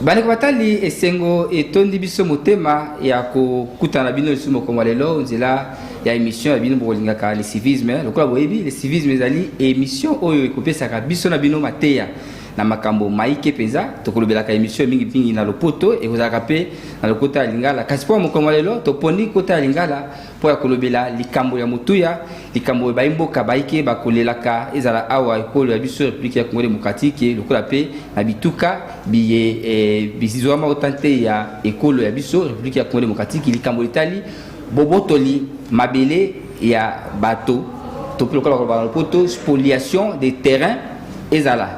bandeko batali esengo etondi biso motema ya kokutana na bino lisusu mokolo ya lelo nzela ya émission ya bino bokolingaka le civisme lokola boyebi le civisme ezali émission oyo ekopesaka biso na bino mateya na makambo maike mpenza tokolobelaka émission mingi mingi na lopoto ekozalaka mpe na lokota ya lingala kasi mpo mokolo ya lelo toponi kota ya lingala mpo ya kolobela likambo ya motuya likambo oyo baimboka baike bakolelaka ezala awa ekolo ya biso republiki ya congo demokratike lokola mpe na bituka biye eh, bizwama uta nte ya ekolo ya biso republiki ya congo demokratike likambo litali bobotoli mabele ya bato topi lokola koloba na lopoto spoliation de terrain ezala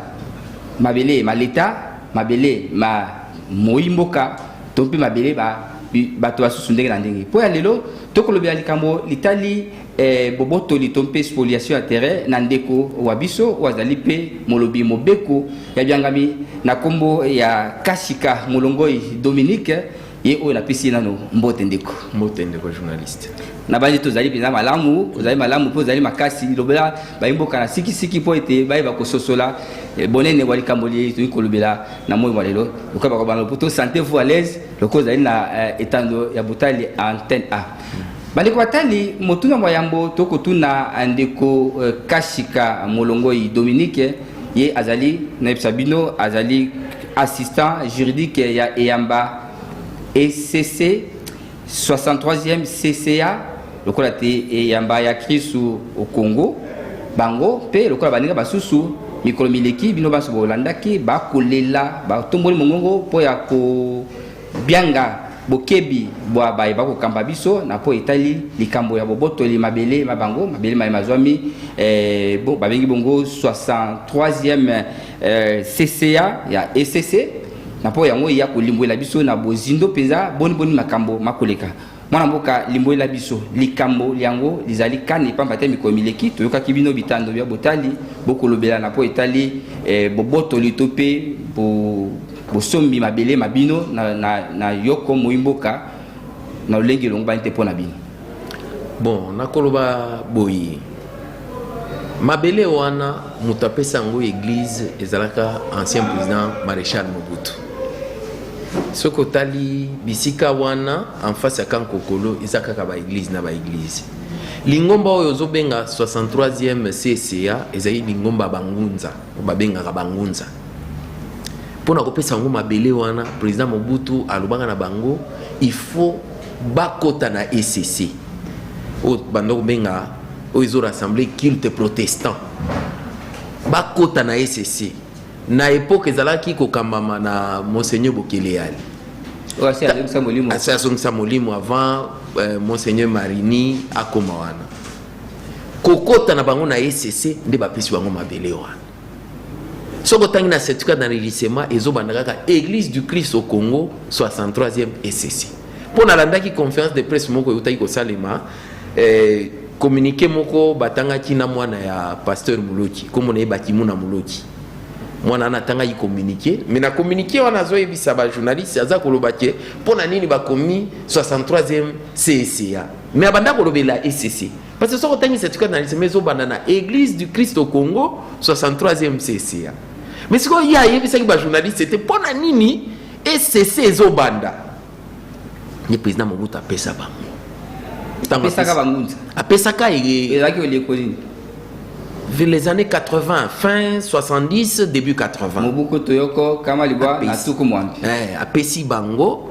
mabele ma leta mabele ma moimboka to mpe mabele ba bato basusu ndenge na ndenge mpo ya lelo tokolobela likambo litali eh, bobotoli to mpe spoliation ya terrain na ndeko wa biso oyo azali mpe molobi mobeko ya biangami na nkombo ya kasika molongoi dominique ye oyo napesi ye nano mbote ndeko mbote ndeko journaliste nabanzi tozali mpenza malamu ozali malamu mpo ozali makasi lobela bayimboka na sikisiki mpo ete bayeba kososola eh, bonene bwa likambo liye toyei kolobela na moi mwa lelo lokola bakoba na lopoto sante vous à l'aise lokola ozali na eh, etando ya botali antenne a bandeko batali motuna mwa yambo tokotuna eh, ndeko eh, kashika molongoi dominique ye azali nayebisa bino azali assistant juridique ya eyamba ecc 63e CCA lokola te eyamba ya Kristu au Congo bango mpe lokola baninga basusu mikolo mileki bino banso bolandaki bakolela batomboli mongongo mpo ya kobyanga bokebi bwa baye bakokamba biso na mpo etali likambo ya bobotoli mabele ma bango mabele maye mazwami eh, bo, babengi bongo 63e eh, CCA ya ECC na mpo yango eya kolimbwela biso na bozindo mpenza boniboni makambo makoleka mwana mboka limbwela biso likambo lyango lizali kani mpamba te mikolo mileki toyokaki bino bitando bya botali bokolobelana mpo etali eh, bobotoli to mpe bo, bosombi mabele ma bino na, na, na yoko moi mboka na lolenge elongobani te mpo na bino Bon, nakoloba boye mabele wana moto apesi yango eglise ezalaka ancien président maréchal mobutu soki otali bisika wana en face ya kankokolo eza kaka baeglise na baeglise lingomba oyo ozobenga 63e cca ezali lingomba bangunza babengaka bangunza mpo na kopesa yango mabele wana président mobutu alobaka na bango il faut bakota na ECC oyo banda kobenga oyo ezo rassembler culte protestant bakota na ECC na epoke ezalaki kokambama na monseigneur Bokeleyali asi azongisa molimo avant euh, monseigneur Marini akoma wana kokota na bango na ECC nde bapesi bango mabele wana soki otangi na certificat d'enregistrement ezobanda kaka église du christ au congo 63e esesi mpo nalandaki conférence de presse moko eutaki kosalema eh, communiqué moko batangaki na mwana ya pasteur moloki nkombo na ye bakimuna moloki mwana wana atangaki communiqué mais na communiqué wana azoyebisa bajournaliste aza koloba ke mpo na nini bakomi 63e cca mais abanda kolobela ecc Parce que soki otangisa tika na lisema ezobanda na Église du Christ au Congo 63e CCA. Mais sikoyo ye ayebisaki bajournaliste te mpo na nini ECC ezobanda. Ye président Mobutu apesa bango. Ntango apesaka bangunza. Apesaka ye. Ezalaki oleko nini? Vers les années 80, fin 70, début 80. Mobuku Toyoko, Kama Libwa, Nasuku Mwambi. Eh, apesi bango.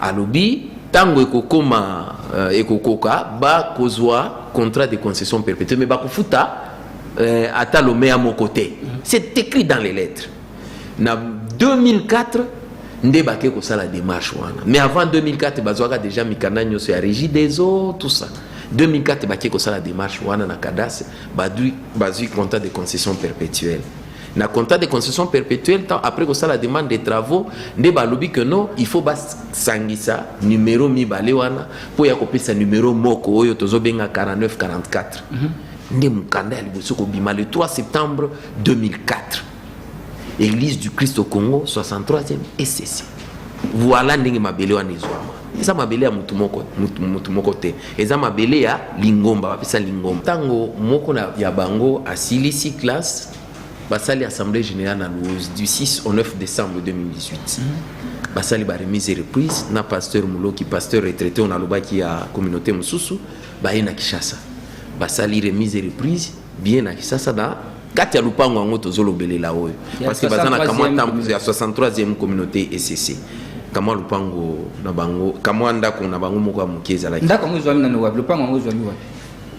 Alobi tango ekokoma euh, ekokoka bakozwa contrat de concession perpétue mais bakofuta euh, ata lomea moko te c'est écrit dans les lettres na 2004 nde bake kosala démarche wana mais avant 2004 bazwaka déjà mikanda nyonso ya régie des eaux tout ça 2004 bake kosala démarche wana na cadastre bazwi contrat de concession perpétuelle na contrat de construction perpétuelle temps après kosala demande de travaux nde balobi que non il faut basangisa numero mibale wana mpo ya kopesa numero moko oyo tozobenga 49 44 mm -hmm. nde mokanda ya liboso kobima le 3 septembre 2004 église du christ au congo 63e ecc Voila ndenge mabele wana ezwama. Eza mabele ya mutu moko, mutu, mutu moko te. Eza mabele ya lingomba, bapesa lingomba. Tango moko na, ya bango asilisi classe, basali assemblée générale na Luozi du 6 au 9 décembre 2018. Mm -hmm. Basali ba remise et reprise na pasteur Muloki, pasteur retraité on alobaki ya communauté mususu, baye na Kishasa. Basali remise et reprise bien na Kishasa na kati ya lupango yango tozolobelela oyo parce que baza na kamwa ntambo ya 63e communauté ECC kamwa lupango na bango kamwa ndako na bango moko ya moke ezalaki ndako yango ezwami nano wapi lupango yango ezwami wapi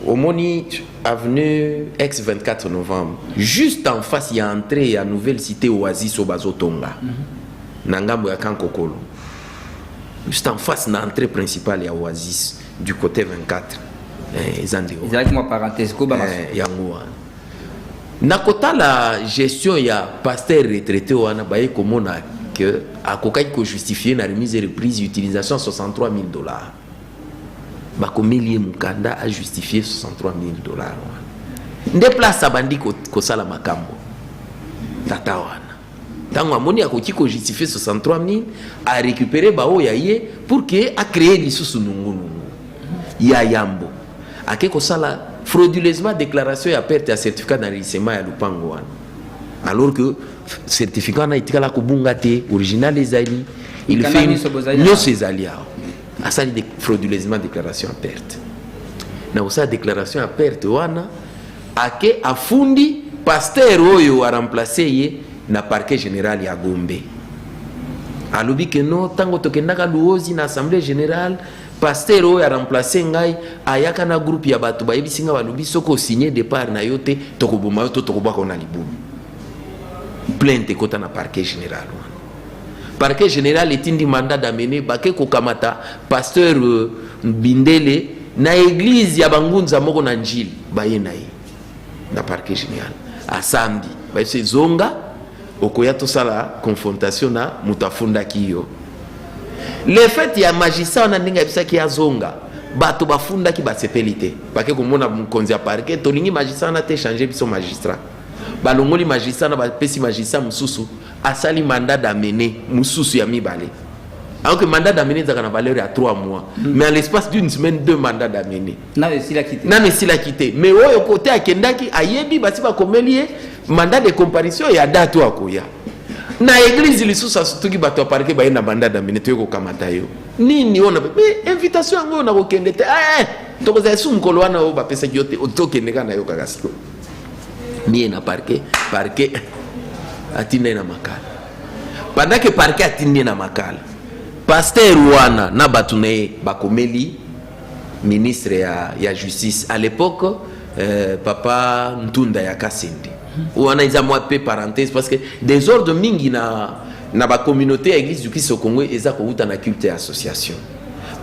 omoni avenue ex 24 novembre juste en face ya entrée ya nouvelle cité oasis oyo bazotonga mm -hmm. na ngambo ya kankokolo juste en face na entrée principale ya oasis du côté 24 eh, eza nde yango wana Na kotala gestion ya pasteur retraite wana baye komona que akokaki ko justifier na remise et reprise utilisation 63000 dollars. Bakomeli ye mukanda a justifier 63000 dollars wana. Nde place abandi kosala makambo tata wana. ntango amoni akoki ko justifie 63000 a récupérer baoyo ya ye pour que a créer lisusu nungunungu ya yambo ake kosala frauduleusement déclaration ya perte ya certificat d'enregistrement ya lopango wana alors que certificat wana etikala kobunga te original ezali il fait nyonso ezali awa asali frauduleusement déclaration ya perte na kosala déclaration ya perte wana Ake afundi pasteur oyo a remplacer ye na parquet general ya Gombe. Alobi ke no, tango tokendaka Luozi na assemblee generale, pasteur oyo a remplacer ngai ayaka na groupe ya bato bayebisi ngai balobi soki osigne depart na yo te tokoboma yo to tokobwaka yo na libulu. Plainte ekota na parquet general. Parquet general etindi mandat d'amener bake kokamata pasteur euh, Bindele na eglise ya bangunza moko na Njili baye na ye na parquet general asambi bayebisi ezonga okoya tosala confrontation na moto afundaki yo le fait ya magistrat wana ndenge ayebisaki azonga bato bafundaki basepeli te bake komona mokonzi ya parquet tolingi magistrat wana te change biso magistrat balongoli magistrat na bapesi magistrat mosusu asali mandat d'amener mususu ya mibale alors que mandat d'amener ezalaka na valeur ya 3 mois mm. mais à l'espace d'une semaine deux mandat d'amener nano esilaki te nano esilaki te mais oyo kote akendaki ayebi basi bakomeli ye mandat de comparution ya date oyo akoya na eglise lisusu asutuki bato ya parke baye na mandat d'amener toye kokamata yo nini oyo mais invitation yango oyo nakokende te eh, eh, tokozala esu mokolo wana oyo bapesaki yo te otokende kaka na yo kaka sikoyo miye na parke parke atindi ye na makala pendant ke parke atindi ye na makala paster wana na bato na ye bakomeli ministre ya, ya justice à l'époque euh, papa ntunda ya kasende wana eza mwa mpe parenthèse parce que desordre mingi na, na bacommunauté ya église du christ au congo eza kowuta na culte ya association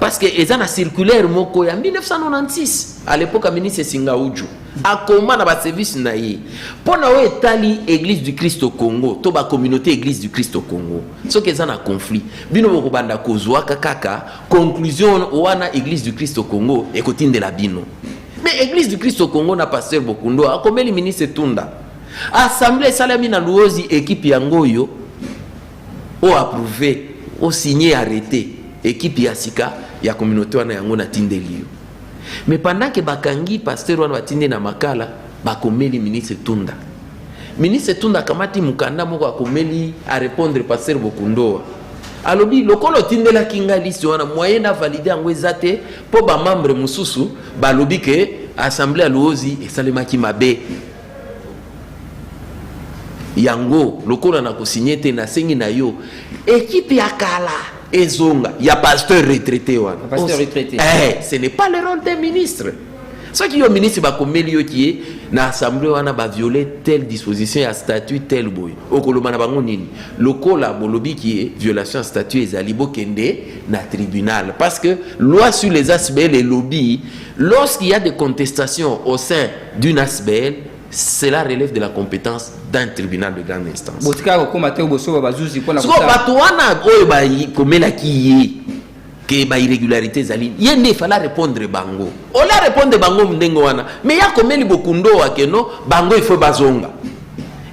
parce que eza na circulaire moko ya 1996 à l'époque ya ministre singauju akoma na baservice na ye mpo na oyo etali eglise du christ au congo to bacommunauté eglise du christ au congo soki eza na conflit bino bokobanda kozwaka kaka conclusion wana eglise du christ au congo ekotindela bino me eglise du christ au congo na pasteur bokundo akomeli ministre tunda assemble esalami na luozi ekipe yango oyo oapprouve osigne arrete ekipe ya sika ya communauté wana yango natindeli yo mais pendant que bakangi pasteur wana batindi na makala bakomeli ministre tunda ministre tunda akamati mokanda moko akomeli arepondre pasteur bokundoa alobi lokola otindelaki ngai liste wana moyen na valide yango eza te mpo bamembre mosusu balobi ke assemblée ya luozi esalemaki mabe yango lokola na kosinye te nasengi na yo ekipe ya kala ezonga ya pasteur retraité wana pasteur retraité eh, ce n'est pas le rôle des ministres soki yo ministre bakomeli yo kiye na assemblée wana baviole telle disposition ya statut tel boye okoloba na bango nini lokola bolobi kiye violation ya statut ezali bokende na tribunal parce que loi sur les asbl elobi lorsqu'il y a des contestations au sein d'une asbl cela relève de la compétence d'un tribunal de grande instance botika kokoma te bosoba bazuzi mpona siko bato wana oyo bakomelaki ye ke bairrégularité ezali ye nde efala répondre bango ola répondre bango ndenge wana me ya komeli bokundo wakeno bango ifo bazonga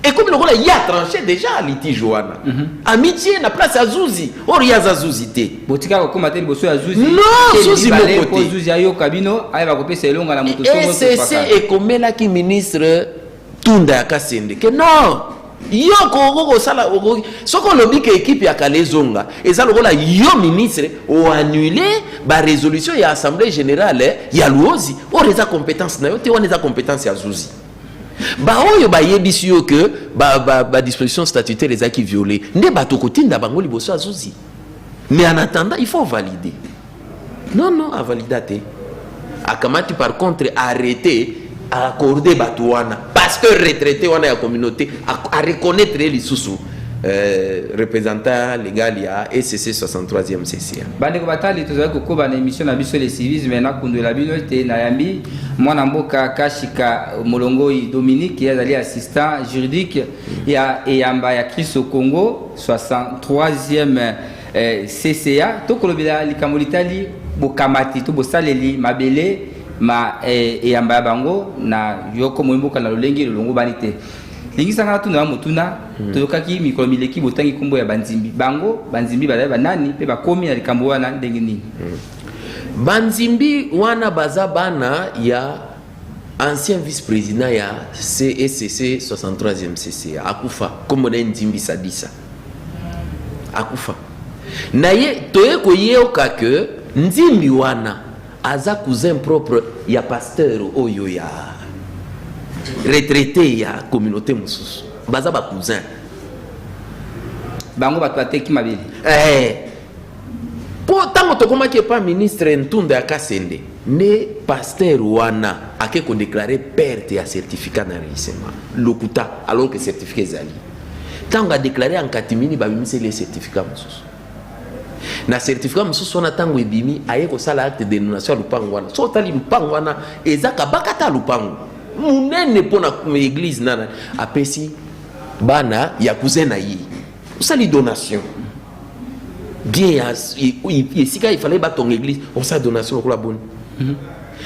ekomi lokola ye atranche déjà litige wana mm -hmm. amitie na place ya zuzi or ye aza zuzi te botika kokoma te liboso ya zuzi no zuzi moko te zuzi ayoka bino ayeba kopesa elonga na moto ecc ekomelaki ministre tunda ya kasende ke non yo okoki kosala okoki soki olobi ke ekipe ya kala ezonga eza lokola yo ministre oannule baresolution ya assemblée générale ya luozi oyo eza compétence na yo te wana eza compétence ya zuzi Baoyo bayebisi yo que ba, ba, ba disposition statutaire ezalaki viole nde bato kotinda bango liboso ya zuzi mais en attendant il faut valider non non avalida te akamati par contre arrete accorde bato wana parce que retraite wana ya communauté areconnaitre ye lisusu Euh, representant legal ya ECC 63e session. Bandeko batali tozali kokoba na emission na biso le civisme na kundwela bino ete nayambi mwana mboka Kashika Molongoi Dominique ye azali assistant juridique ya eyamba ya Kristo Congo 63e eh, CCA tokolobela likambo litali bokamati to bosaleli mabele ma eh, eyamba ya bango na yoko moyimboka na lolenge lolongobani te lingisa ngai natuna yo motuna hmm. toyokaki mikolo mileki botangi nkombo ya banzimbi bango banzimbi bazali banani mpe bakomi na likambo wana ndenge nini hmm. banzimbi wana baza bana ya ancien vice-président ya CSC 63e CC akufa nkombo na ye nzimbi sadisa akufa na ye toye koyoka ke nzimbi wana Aza cousin propre ya pasteur oyo ya retraite ya communauté mosusu baza ba cousin bango bato bateki mabele eh. mpo eh. ntango tokomaki epa ministre ntunda ya kasende nde pasteur wana ake kodeklare perte ya certificat na reisema lokuta alors que certificat ezali ntango adeklare ya nkatimini babimiseli ye certificat mosusu na certificat mosusu wana ntango ebimi aye kosala acte de donation ya lupango wana so otali lupango wana eza kabakata lupango monene mpo na eglise nana apesi bana ya cousin na ye osali donation bien ya esika ifalai batonga eglise osala donation lokola boni mhm.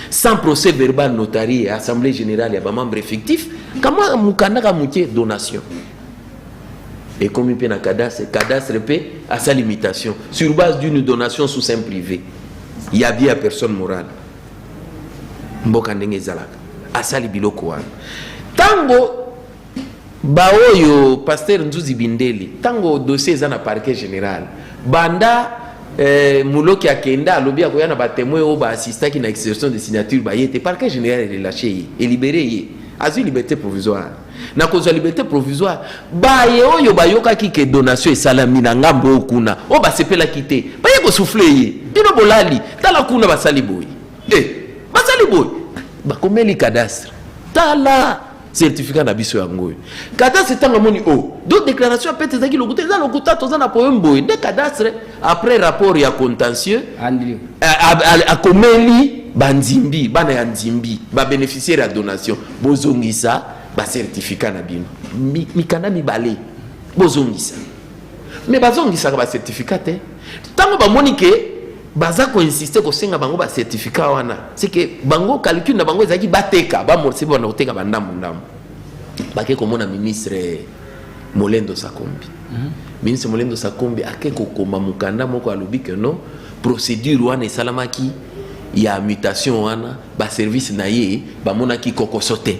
sans procès verbal notari ya assemblée générale ya bamembre effectif kama mokanda ka moke donation ekomi mpe na cadastre cadastre mpe asali mutation sur base d'une donation sous un privé ya bie ya personne morale mboka ndenge ezalaka asali biloko wana ntango baoyo paster nzuzi bindeli ntango dossier eza na parquet général banda eh, moloki akenda alobi akoya na batemoin oyo baassistaki na exception de signature baye te parquet général elelache ye elibere ye azwi liberté provisoire na kozwa liberte provisoire baye oyo bayokaki ke donation esalami na ngambo oyo kuna oyo basepelaki te baye kosufle ye bino bolali tala kuna basali boye e eh, basali boye bakomeli cadastre tala certificat na biso yango oyo cadastre ntango amoni o oh, do déclaration ya pete ezalaki lokuta eza lokuta toza na problème boye nde cadastre après rapport ya contentieux akomeli banzimbi bana ya nzimbi babeneficiaire ya donation Bozongisa ba certificat na bino mikanda mibale bozongisa me bazongisaka ba certificat te ntango bamoni ke baza koinsiste kosenga bango ba certificat wana seke bango calcul na bango ezalaki bateka bamorse bana koteka bandambo ndambo bake komona ministre molendo sakombi mm -hmm. ministre molendo sakombi ake kokoma mokanda moko alobi ke non procédure wana esalamaki ya mutation wana ba service na ye bamonaki kokoso te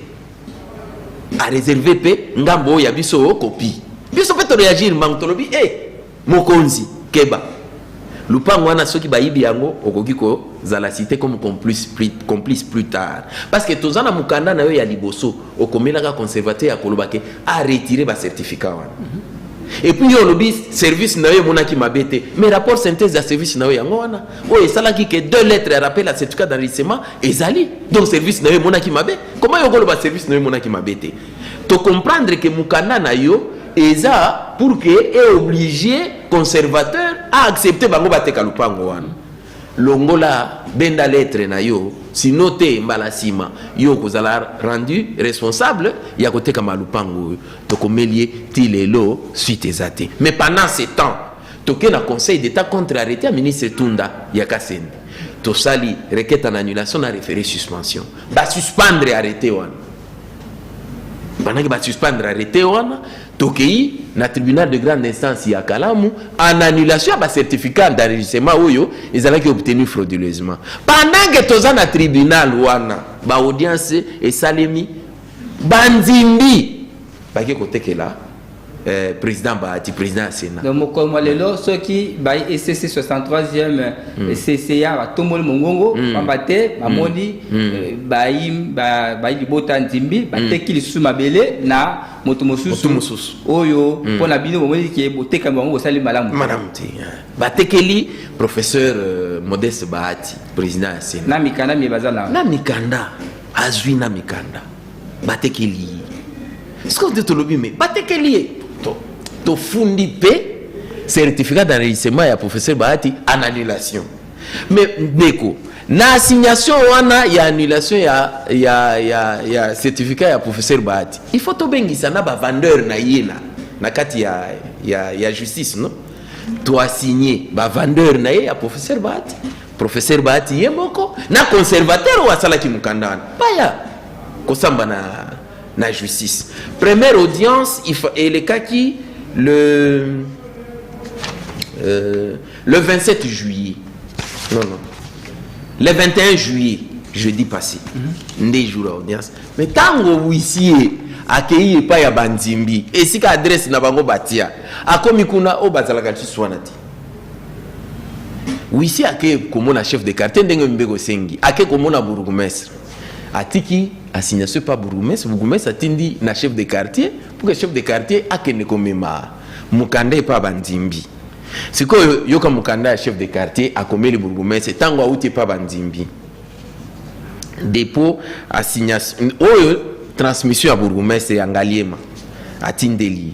areserve mpe ngambo oyo ya biso kopi biso mpe toreagir mbango tolobi e eh, mokonzi keba lupango wana soki bayibi yango okoki kozala site comme complice plus, complice plus tard parce que toza na mokanda na yo ya liboso okomelaka conservateur ya koloba ke aretire bacertificat wana mm -hmm. epuis yo olobi service na yo emonaki mabe te mais rapport synthèse ya service na yo yango wana oyo esalaki ke deux lettres ya rappel ya certificat d'enregistrement ezali donc service na yo emonaki mabe koma yo okoloba service na yo emonaki mabe te tocomprendre ke mokanda na yo eza pour ke eoblige conservateur aaccepte bango bateka lopango wana longola benda lettre na yo sino te mbala nsima yo okozala rendu responsable ya kotekama lopango oyo tokomeli ye ti lelo suite eza te mais pendant ce temps toke na conseil d'etat contre arrete ya ministre tunda ya kasende tosali requête en annulation na référé suspension basuspendre arrete wana bandaki basuspendre arrete wana tokei na tribunal de grande instance ya kalamu en annulation ya bacertificat d'enregistrement oyo ezalaki obtenu frauduleusement pendant ke toza na tribunal wana baaudience esalemi bandimbi bake kotekela Eh, président Bahati, président Sénat. Donc, mokolo mwa lelo soki bayi ECC 63e mm. CCA batomboli mongongo mm. pamba te bamoni mm. mm. Eh, bayi bayi libota nzimbi mm. bateki lisusu mabele na moto mosusu oyo mm. mpo na bino bomoni ke botekami bango bosali malamu malamu te batekeli professeur euh, modeste bahati président ya sénat na mikanda mie baza na na mikanda azwi na mikanda batekeli ye sikoyo nde tolobi me batekeli ye tofundi mpe certificat d'enregistrement ya professeur bahati en annulation me ndeko na assignation wana ya annulation ya, ya, ya, ya certificat ya professeur bahati il faut tobengisa na bavandeur na ye na, na kati ya, ya, ya justice no toasigne bavandeur na ye ya professeur bahati Professeur Bahati ye moko na conservateur oyo asalaki mokanda wana baya kosamba na, na justice. Première audience elekaki le, euh, le 27 juillet. Non, non. Le 21 juillet, jeudi passé, mm -hmm. nde jour ya audience. Mais ntango huissier akei epai ya banzimbi esika adresse na bango batia akomi kuna oyo bazalaka lisusu wana te wisi ake komona chef de quartier ndenge mibeko esengi ake komona bourgmestre atiki assignation pa bourgmestre bourgmestre atindi na chef de quartier pour que chef de quartier akende komema mokanda epa bandimbi sikoyo yoka mokanda ya chef de quartier akomeli bourgmestre ntango auti epa bandimbi dépôt assignation oyo transmission ya bourgmestre ya ngaliema atindeli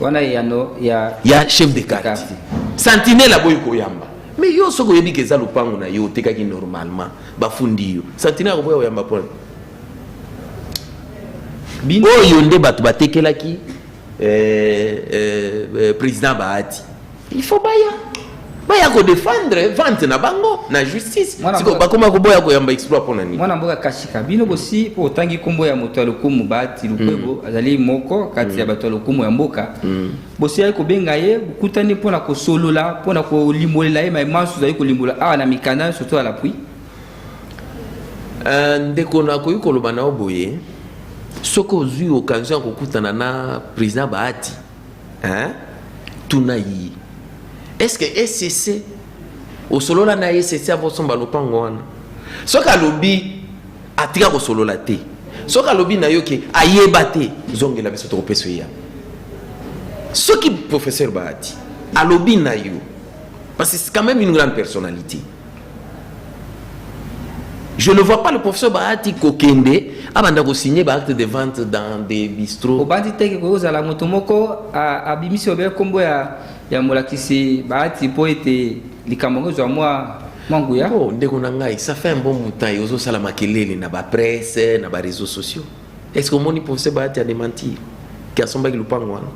wana eyano ya ya chef de quartier sentinelle aboyi koyamba mais yo soki oyebi ke eza lopango na yo otekaki normalement bafundi yo sentinelle akoboya koyamba pona oyo nde bato batekelaki eh, eh, eh, président bahati il faut baya baya ko défendre vente na bango na justice siko bakoma koboya koyamba exploit mpo na nini mwana mboka kashika bino bosi mpo otangi nkombo ya moto ya lokumu bahati lukwebo mm. azali moko kati ya mm. bato ya lokumu ya mboka mm. bosiyaki kobenga ye bokutani mpo na kosolola mpo na kolimbolela ye mai manso ozali kolimbola awa na mikanda surtout ya lapui euh, ndeko nakoki koloba na yo boye soki ozwi occasion ya kokutana na président bahati hein tuna yi est-ce que ECC osolola na ECC avant somba lopango wana soki alobi atika kosolola te soki alobi na yo ke ayeba te zongela biso tokopesa ye yango soki professeur bahati alobi na yo parce que c'est quand même une grande personnalité Je ne vois pas le professeur Bahati kokende abanda ko signer ba acte de vente dans des bistrots. Obandi te ke kozala moto moko abimisi obele kombo ya ya molakisi Bahati mpo ete likambo yango ezwa mwa manguya. Oh, ndeko na ngai, ça fait un bon moutaille ozosala makelele na ba presse na ba réseaux sociaux. Est-ce que omoni procès Bahati a démentir que asombaki lupango wana?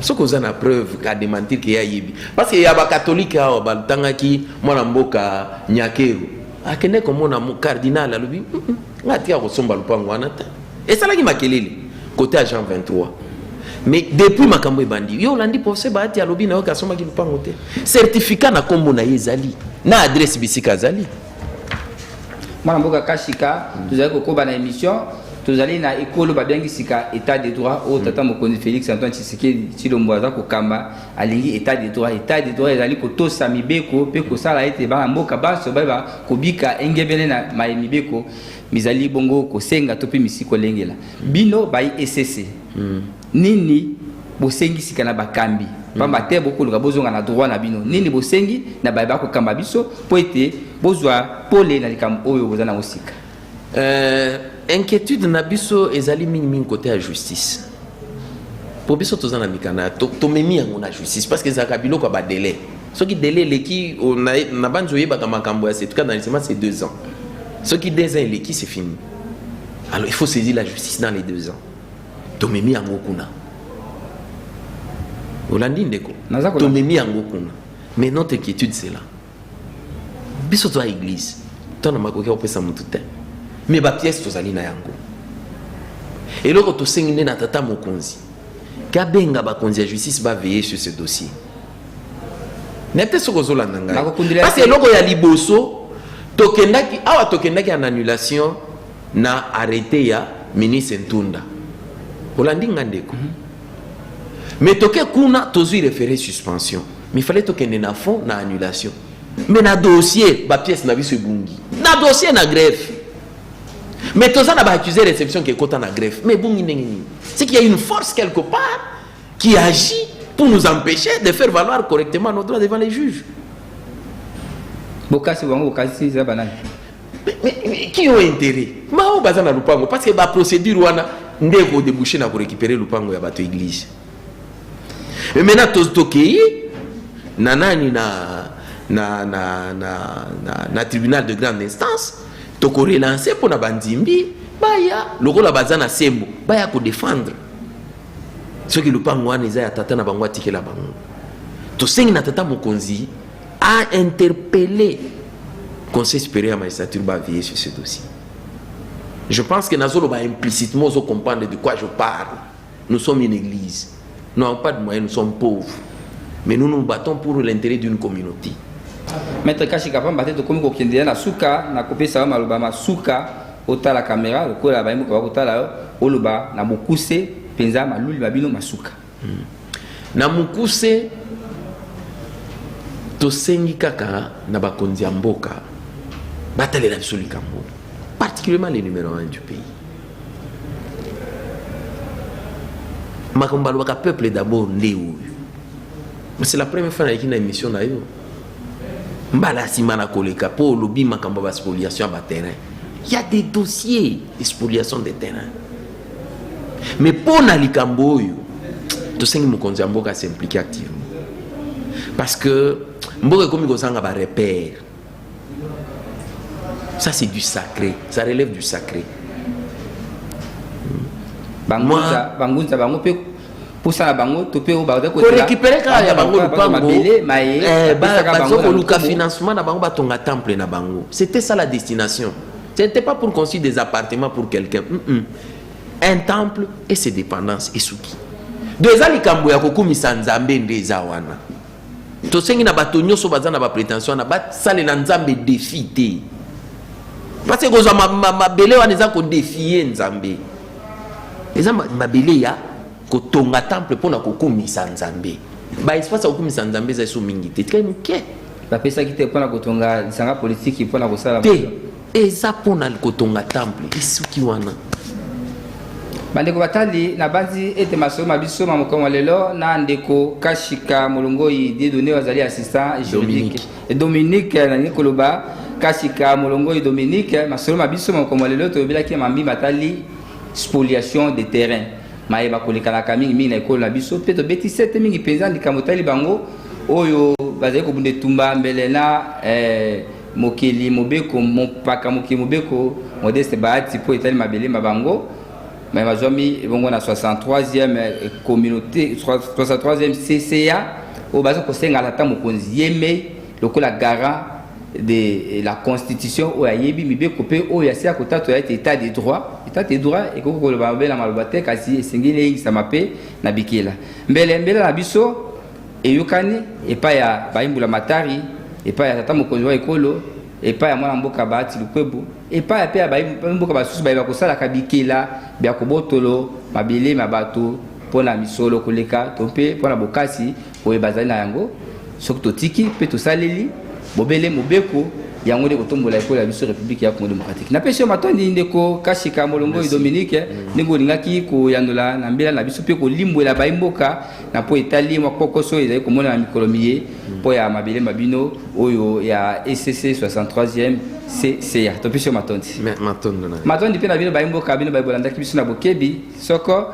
soki oza na preuve ka démentir ke ayebi parce que ya bakatolike awa batangaki mwana mboka nyakeru akende komona cardinal alobi mm, mm, nga atika kosomba lupango wana te esalaki makelele kote ya jean 23 mais depuis makambo ebandi yo olandi procès baati alobi na yo ke asombaki lupango te certificat na nkombo na ye ezali na adresse bisika azali mwana mboka kashika tozali kokoba na émission tozali na ekolo babiangi sika état de droit oyo tata mokonzi félix antoine tshisekedi tshilombo aza kokamba alingi état de droit état de droit ezali kotosa mibeko mpe kosala ete bana mboka banso bayeba kobika engebene na maye mibeko mizali bongo kosenga to mpe misi kolengela bino bayi esese Nini bosengi sika na bakambi pamba te bokoluka bozonga na droit na bino nini bosengi na baye bakokamba biso mpo ete bozwa pole na likambo oyo boza nango sika euh, inquiétude na biso ezali mingimingi kote ya justice mpo biso toza na mikanda tomemi yango na justice parce que ezalaka biloko ya badele soki dele eleki na banzi oyebaka makambo ya setuka na lisema c'est deux ans soki deux ans eleki c'est fini alors il faut saisir la justice dans les deux ans tomemi yango kuna olandi ndeko tomemi yango kuna mais notre inquiétude c'est là biso toza église to na makoki ya kopesa motu te mais bapièce tozali na yango eloko tosengi nde na tata mokonzi kabenga bakonzi ya justice baveye sur ce dossier nayebi te soki ozolanda ngai parce eloko ya liboso tokendaki awa tokendaki en annulation na arrete ya ministre Ntunda. Olandi nga ndeko. Mm -hmm. Mais toke kuna tozui refere suspension. Mais fallait tokende na fond na annulation. Mais na dossier ba pièce na biso ebungi. Na dossier na greffe. Mais toza na ba accusé réception qui ekota na greffe. Mais ebungi ndenge nini? C'est qu'il y a une force quelque part qui agit pour nous empêcher de faire valoir correctement nos droits devant les juges. Bokasi bango bokasi za banani? qui ont intérêt mao baza na lupango parce que ba procédure wana nde ekodebouche na korécupere lupango ya bato église mais maintenant tokei na nani na, na, na, na, na, na tribunal de grande instance tokorelance mpo na bandimbi baya lokola baza na sembo baya kodefendre soki lupango wana eza ya tata na bango atikela bango tosengi na tata mokonzi a interpelle conseil supérieur ya magistrature ba veiller sur ce dossier je pense que nazoloba implicitement ozo comprendre de quoi je parle nous sommes une église nous n'avons pas de moyens nous sommes pauvres mais nous nous battons pour l'intérêt d'une communauté maître kashi kapamba te tokomi kokendela na suka na kopesa yo maloba ma suka otala kamera lokola bayemoka bakotala yo oloba na bokuse mpenza maluli ma bino masuka Hmm. Na mukuse tosengi kaka na bakonzi ya mboka batalela biso likambo particulièrement le numero 1 du pays makambo balobaka peuple d'abord nde oyo c'est la première fois nayaki na émission na yo mbala nsima na koleka mpo olobi makambo ya baspoliation ya baterrain ya des dossiers spoliation de terrain Mais mpo na likambo oyo tosengi mokonzi ya mboka se implique activement parce que mboka ekomi kozanga ba repère ça c'est du sacré ça relève du sacré bangunza bangunza bango mpe mposa na bango to mpe oyo bakorekipere kaka ya bango lopango eh, bazokoluka financement na bango batonga temple na bango c'était ça la destination Ce n'était pas pour construire des appartements pour quelqu'un. Mm -mm. Un temple et ses dépendances et souki. Donc eza likambo ya kokumisa Nzambe nde eza wana. Tosengi na bato nyonso baza na ba prétention na basalela Nzambe défi te. Parce que kozwa mabele wana eza ko défier Nzambe. Eza mabele ya kotonga temple mpo na kokumisa nzambe baespace ya kokumisa nzambe eza eso mingi te tikali moke bapesaki te mpo na kotonga lisanga politiki mpo na kosala te eza mpo na kotonga temple esuki wana bandeko batali nabanzi ete masolo ma biso ma mokolo lelo na ndeko kashika molongoi didone azali assistant juridique dominique nalingi koloba kashika molongoi dominique masolo ma biso ma mokolo lelo tolobelaki mambi matali spoliation de terrain maye bakolekalaka mingimingi na ekolo na biso mpe tobeti sete mingi mpenza likambo etali bango oyo bazali kobunda etumba mbele na eh, mokeli mobeko mopaka mokeli mobeko modeste bahati mpo etali mabele ma bango me bazwami ebongo na 63e eh, communauté 63e cca oyo baza kosenga ata mokonzi yemei lokola garant de la constitution oyo ayebi mibeko mpe oyo asi ya kotatola ete etat de droit etat de droit ekoki koloba mabe na maloba te kasi esengeli eyengisama mpe na bikela mbele mbele na biso eyokani epai ya bayimbula matari epai ya tata mokonzi wa ekolo epai ya mwana mboka baati lukwebu epai ya mpe ya bamboka basusu baye bakosalaka bikela bya kobotolo mabele ma bato mpo na misolo koleka to mpe mpo na bokasi oyo bazali na yango soki totiki mpe tosaleli bobele mobeko yango nde kotombola ekolo ya biso république ya congo démocratique napesi yo matondi ndeko kashika molongoi dominique mm. ndenge olingaki koyanola na mbela na biso mpe kolimbwela bayi mboka na mpo etali mwa kokoso ezali komona na mikolo miye mm. mpo ya mabele ma bino oyo ya ecc 63e cca topesi yo matondi matondi mpe na bino bayi mboka bino bayi bolandaki biso na bokebi soko